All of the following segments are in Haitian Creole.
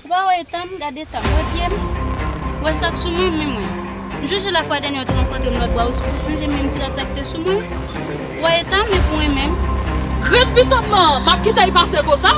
Ou pa wè etan m, gad eta m, wè pye m, wè sa k sou mwen, men mwen. M sonje lafwa dènye ou te rankontre m lòt bò a, ou sonje menm ti rad sa k te sou mwen? Wè eta m, epi w renmen m? Grenn pitom nan, m ap kite l pase konsa?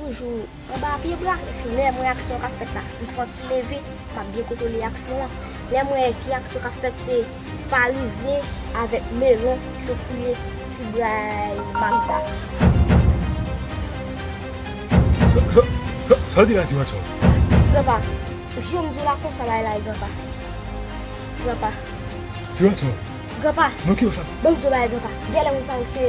Toujou anba pye bra, epi lè mwen aksyon kap fèt la, m fon ti leve, map byen kontwole aksyon an. Lè m wè ki aksyon kap fèt se farizyen avèk melon ki sot fouye ti bray Magda. Sa w di la ti gason? Granpa, jwe m di w la konsa la e la e granpa. Granpa. Ti gason. Granpa. Mwen ki w sa? Bon m di w bagay granpa, gèlè moun sa yo se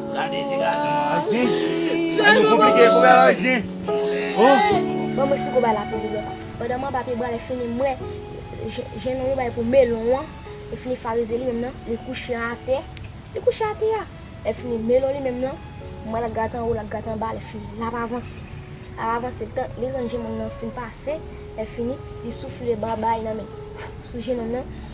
Gade ti gason an. An zen. An nou konplike kou bagay zen. Oh. Ban mwen siko bay la pou li lòt. Pandan mwen ap pibwa lè fini mwen jenn yo bay pou melon an lè fini farize li menm nan li kouche atè li kouche atè a lè fini melon li menm nan mwen lap gate anwo lap gate anba lè fini lap avanse lap avanse li tan li tan jenn yo nan fin pase lè fini li soufle babay nan men sou jenn yo nan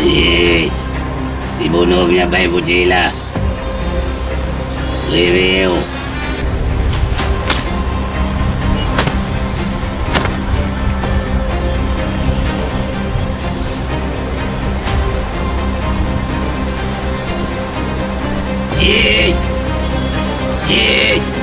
Eyy! Ti Bono vin ap bay boutey la! Reveye w! Ti! Ti!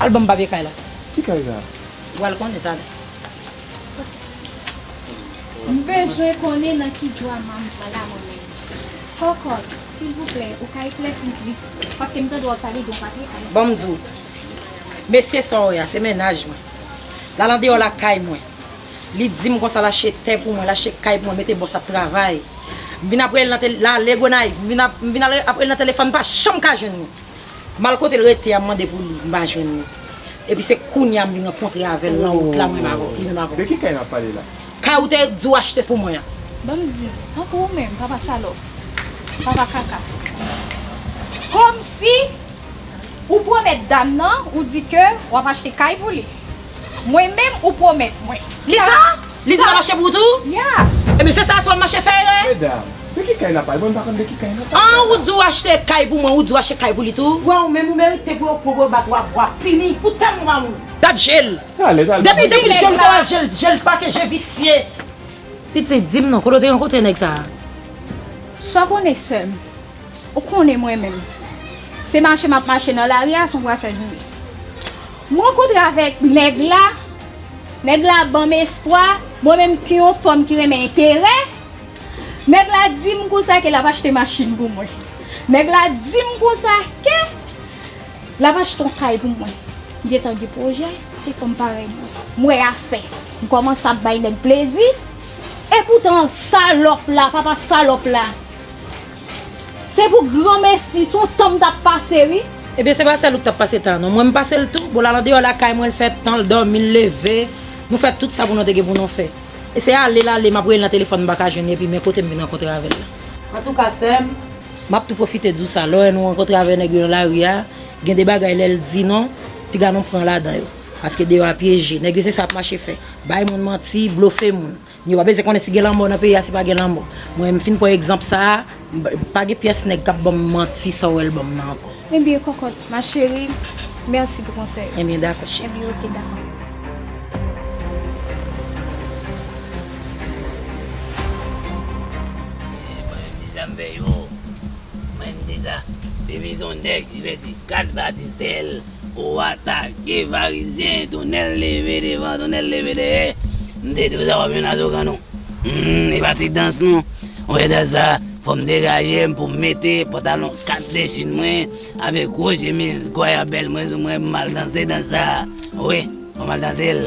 Al banm papye kay la. Ki kay sa? Ou pral konnen talè. M bezwen konnen nan ki drama m pran la mwen menm. Kòkòt, silvouplè ou ka eklèsi m plis paske m tande w ap pale de yon papye kay. Ban m di w. Mesye sa w wè a se mennaj mwen. L al andeyò lakay mwen. Li di m konsa l achte tè pou mwen, l achte kay pou mwen, mete bòs ap travay. M vin ap rele nan tele, l ale Gonayiv. M vin ap rele nan telefòn m pa janm ka jwenn li. Mal kotel rete a m mande pou li m pa jwenn li epi se kounya m vin rankontre avèl nan wout la mwen menm avèw li menm avèw. De ki kay nap pale la. Kay ou te di ou achte pou mwen an. Banm di nou, tankou ou menm papa salòp, papa kaka. Komsi ou pwomèt dam nan ou di ke wap achte kay pou li. Mwen menm ou pwomèt mwen. Kisa? Li te nan mache pou ou tou? Yeah! Ebyen se sa aswè mache Ferre? Medam, de ki kay nap pale? Mwen m pa konn de ki kay nap pale la. An ou di ou achte kay pou mwen, ou di ou achte kay pou li tou? Pran ou menm ou merite pou yo pran pou yo bat ou a bwa pini pou tèlman ou mal ou. Gad jel. Tale, tale. Depi depi jel ou ta wè jel, jel pake je visye. Pitit, dim non, kote ou te rankontre nèg sa a? Sa w konnen sè m? Ou konnen mwen menm. Se mache map mache nan lari a, son brasaj m ye. M rankontre avèk nèg la, nèg la ban m espwa, mwen menm ki yon fanm ki renmen enterè, nèg la di m konsa ke l ap achte machin pou mwen, nèg la di m konsa ke l ap achte yon kay pou mwen, m gen tan gen pwojè, se fanm parèy mwen, m wè afè, m kòmanse ap bay nèg plezi, epoutan salòp la, papa salòp la. Se pou gran mesi, son tan m tap pase wi. Ebyen se pa sèl ou k tap pase tan an non, mwen m pase l tou, bon l al andeyò lakay mwen l fè tan l dòmi l leve, nou fè tout sa pou nou te gen pou nou fè. E se ale l ale, m ap rele nan telefòn m pa ka jwenn li epi men kote m vin rankontre avè l la. Antouka sèm, m ap tou pwofite di w sa, lè w wè nou rankontre avè nèg yo nan lari a, gen de bagay lè l di nou, piga nou pran ladan yo. Paske deyò a pyeje, nèg yo se sa y ap mache fè, bay moun manti, blofe moun. Yo pa bezwen konnen si gen lanmò nan peyi a si pa gen lanmò. Mwen m fin pran egzanp sa a, pa gen pyès nèg k ap ban m manti sa w wè l ban m nan ankò. Enbyen kòkòt, ma chérie, mèsi pou konsèy ou. Enbyen dakò cheri. Enbyen oke dakò. Mwen m deja m vè yo. Mwen m deja. Depi son nèg li vè di 4 batis dèyè l. Ou atake farizyen tonel leve devan tonel leve dèyè m te di w sa wap jwenn azokan nou humm epa ti dans non ou wè dans sa fòm degajem poum mete pantalon 4 de chine mwen avek gwo chemiz goyabel mwen sou mwen poum al danse dans sa wi fòm al dansel.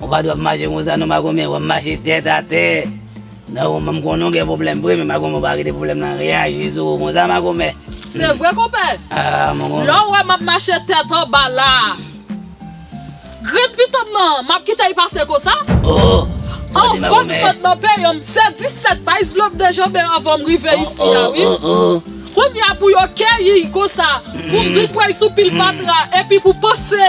Ou pa dwe ap mache konsa non makomè, wap mache tèt atè nan roman m konnen w gen pwoblèm vre men makomè w pa kite pwoblèm nan reyaji sou ou konsa makomè. Se vre konpè, lè w wè map mache tèt anba la a grenn pito m nan map kite l pase konsa? Anvan m sot nan peyanm m fè 17 bay zlo m dejanbe anvan m rive isi a wi Kounya pou yo keyi l konsa pou m vin pran l sou pil fatra epi pou panse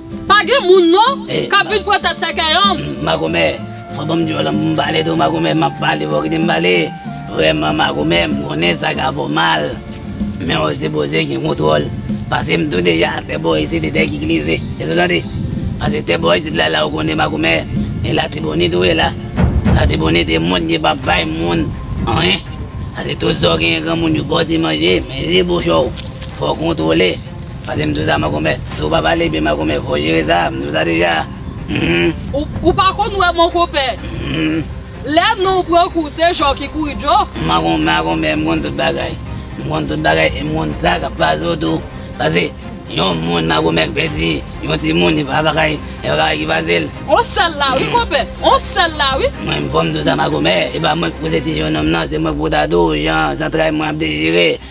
Pa gen moun non kap vin pran tèt sèkèy anm. Makomè fò banm dyòl anm poum pale tou makomè map pale fò kitem pale vrèman makomè m konnen sa ka fè w mal men w se poze gen kontwòl pasem tou deja tè bò isit e tè ki glize eske w tande pase tè bò isit la la w konnen makomè e latibonit ou ye la latibonit e moun ki pap bay moun anyen pase tout sa w genyen granmoun yo bò ti manje men je bouch w fò w kontwole. Pase m tousa makomè. Si w pa pale byen makomè fò w jere sa. M tousa deja. Humm. Ou pa konn wè mon konpè. Humm. Lè nonw pran kou se jò ki kouri djo. Makomè makomè m konn tout bagay. M konn tout bagay e m konn sa kap pase w tou. Pase yon moun makomè k pèdi yon timoun e pa bagay e pa bagay ki pase l. On sèl la wi konpè. On sèl la wi. Mwen m fò m tousa makomè. E pa mwen k pouse ti jennonm nan se mwen k pou ta tou jan zantray mwen ap dechire.